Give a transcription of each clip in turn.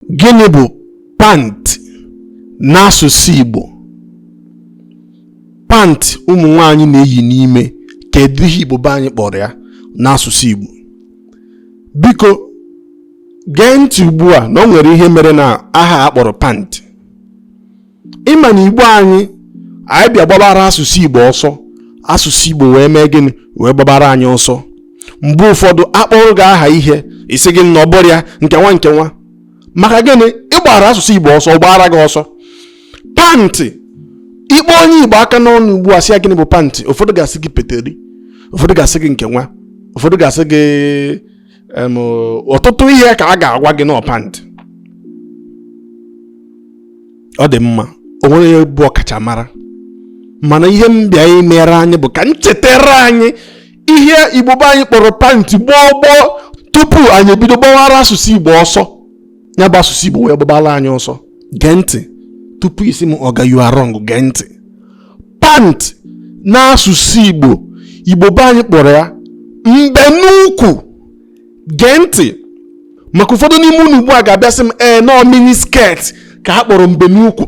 gịnị bụ pant n'asụsụ Igbo pant ụmụ nwanyị na-eyi n'ime kedu ihe Igbo be anyị kpọrọ ya n'asụsụ Igbo biko gee ntị ugbu a na o nwere ihe mere na aha a kpọrọ pant ị ma na igbo anyị anyị bịa gbabara asụsụ igbo ọsọ asụsụ igbo wee mee gịnị wee gbabara anyị ọsọ mgbe ụfọdụ a kpọrọ gị aha ihe isi gị na ọbụrụ ya nkewa nkewa maka gịnị ị gbara asụsụ igbo ọsọ ọ gbara gị ọsọ pant ikpe onye igbo aka n'ọnụ ugbu a sị ya gịnị bụ pant ụfọdụ ga-asị gị peteri ụfọdụ ga-asị gị nke nwa ụfọdụ ga-asị gị ọtụtụ ihe ka a ga-agwa gị na ọ pant ọ dị mma o nwere ihe bụ ọkachamara mana ihe m bịa imere anyị bụ ka m chetara anyị ihe igbo be anyị kpọrọ pant gboo gboo tupu anyị ebido gbabara asụsụ igbo ọsọ ya bụ asụsụ igbo wee gbabara anyị ọsọ gee ntị tupu ị sị m ọga you are wrong gee ntị pant n'asụsụ igbo igbo be anyị kpọrọ ya mbe n'ukwu gee ntị maka ụfọdụ n'ime unu ugbu a ga-abịa sị m ee na ọ mini skirt ka ha kpọrọ mbe n'ukwu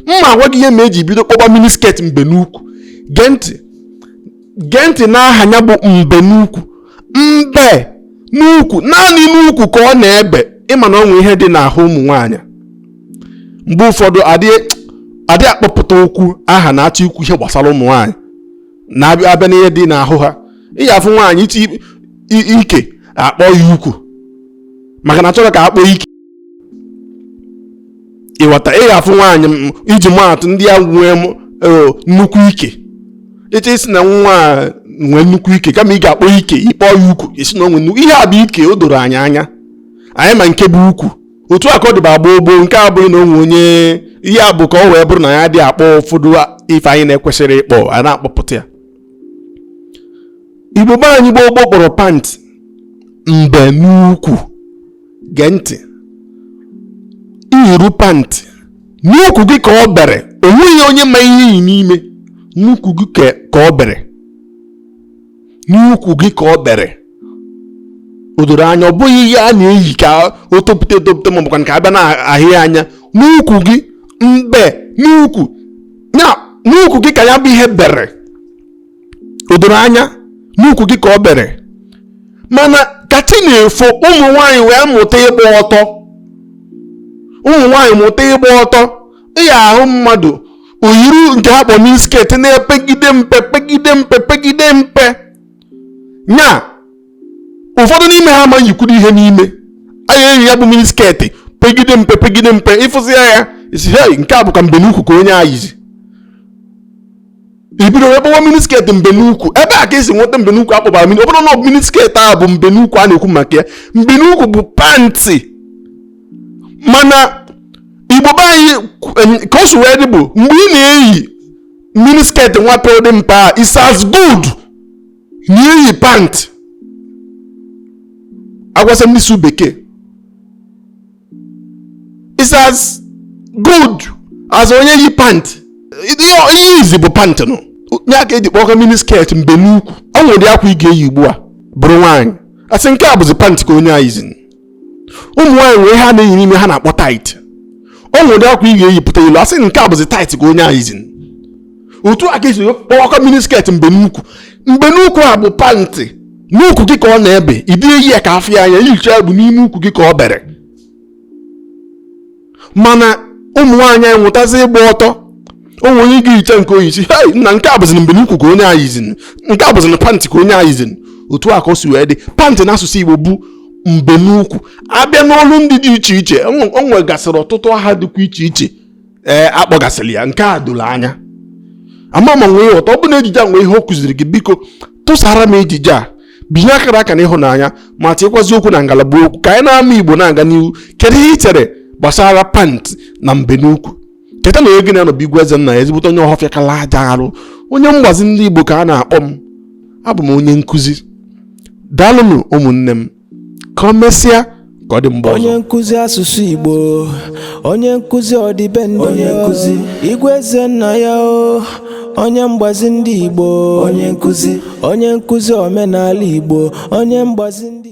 mma agwa gị ihe mere e ji bido kpọba mini skirt mbe n'ukwu gee ntị gee ntị n'aha ya bụ mbe n'ukwu mbe n'ukwu naanị n'ukwu ka ọ na-ebe ị ma na o nwe ihe dị n'ahụ ụmụ nwaanyị mgbe ụfọdụ adị akpọpụta okwu aha na-achọ ikwu ihe gbasara ụmụ nwaanyị a bịa n'ihe dị n'ahụ ha ị ya-afụ nwaanyị iti ike akpọ ya ukwu maka na achọrọ ka a kpọ ike ị ghọta ị ya-afụ nwaanyị iji maa atụ ndị a nwee e, nnukwu ike ị chọ ịsị na nwa a nwee nnukwu ike kama ị ga-akpọ ike ị kpọ ya ukwu ị sị na o nwe nnukwu ihe a bụ ike o doro anyị anya anyị ma nke bụ ukwu otu a ka ọ dịba gboo gboo nke a abụghị na o nwe onye ihe a bụ ka ọ wee bụrụ na anyị adị akpọ ụfọdụ ife anyị na-ekwesịrị ịkpọ a na-akpọpụta ya igbo be anyị gboo gboo kpọrọ pant mbe n'ukwu gee ntị i yiru pant n'ukwu gị ka ọ bere o nweghị onye ma ihe i yi n'ime n'ukwu gị ka ọ bere n'ukwu gị ka ọ bere o doro anya ọ bụghị ihe a na-eyi ka o topụta etopụta ma ọ bụkwa ka a bịa na-ahụ ya anya n'ukwu gị mbe n'ukwu ya n'ukwu gị ka ya bụ ihe bere o doro anya n'ukwu gị ka ọ bere mana ka chi na-efo ụmụ nwanyị wee mụta ịgba ọtọ ụmụ nwanyị mụta ịgba ọtọ ị ya-ahụ mmadụ o yiri nke ha kpọ mini skirt na-epegide mpe pegide mpe pegide mpe nya ụfọdụ n'ime ha ama yikwuru ihe n'ime ha eyi ya bụ mini sketị pegide mpe pegide mpe ịfụzi ya ya asị hei nke a bụ ka mbe n'ukwu ka onye a yizi ebido wee kpọwa mini sketị mbe n'ukwu ebe a ka esi nweta mbe n'ukwu akpọbara mini ọ bụrọ na ọ bụ mini sketị a bụ mbe n'ukwu a na-ekwu maka ya mbe n'ukwu bụ pantị mana igbo be anyị ka o si wee dị bụ mgbe ị na-eyi minisket nwa pe ụdị mpe a is as good na iyi pant agwasa ndị sụ bekee is as good as onye yi pant ihe i yizi bụ pant nụ nya ka eji kpọkwa minisket mbe n'ukwu ọ nwere akwa ị ga-eyi ugbu a bụrụ nwaanyị asị nke a bụzi pant ka onye a yizin ụmụ nwaanyị nwere ihe ha na-eyi n'ime ha na-akpọ tait ọ nwere ụdị akwa ị ga-eyipụta ilu asị nke a bụzi tait ka onye a yizin otu a ka esi kpọwakwa mini sket mbe n'ukwu mbe n'ukwu a bụ pantị n'ukwu gị ka ọ na-ebe ịdị eyi ya ka afụ ya anya iyicha ya bụ n'ime ukwu gị ka ọ bere mana ụmụ nwaanyị anyị nwụtazi ịgba ọtọ o nwere onye ga-eyicha nke o yi ị sị hei nna nke a bụzin mbe n'ukwu ka onye a yizin nke a bụzin pantị ka onye a yizin otu a ka o si wee dị pantị n'asụsụ igbo bụ mbe n'ukwu abịa n'olu ndị dị iche iche o nwegasịrị ọtụtụ aha dịkwa iche iche ee akpọgasịrị ya nke a doro anya ama ma nwee ọtọ ọ bụ na ejije a nwee ihe ọ kụziri gị biko tụsaara m ejije a binye akara aka n'ịhụnanya ma tikwazi okwu na ngalaba okwu ka anyị na-ama igbo na-aga n'ihu kedu ihe i chere gbasara pant na mbe n'ukwu cheta na onye gị na ya nọ bụ igwe eze nna ya ezigbote onye ọhọfịa kala aja arụ onye mgbazi ndị igbo ka a na-akpọ m abụ m onye nkụzi daalụnụ ụmụnne m ka o mesịa ka ọ dị mgbe ọzọ onye nkụzi asụsụ igbo onye nkụzi ọdịbendị onye nkụzi igwe eze nna ya o onye mgbazi ndị igbo onye nkụzi omenala igbo onye mgbazi ndị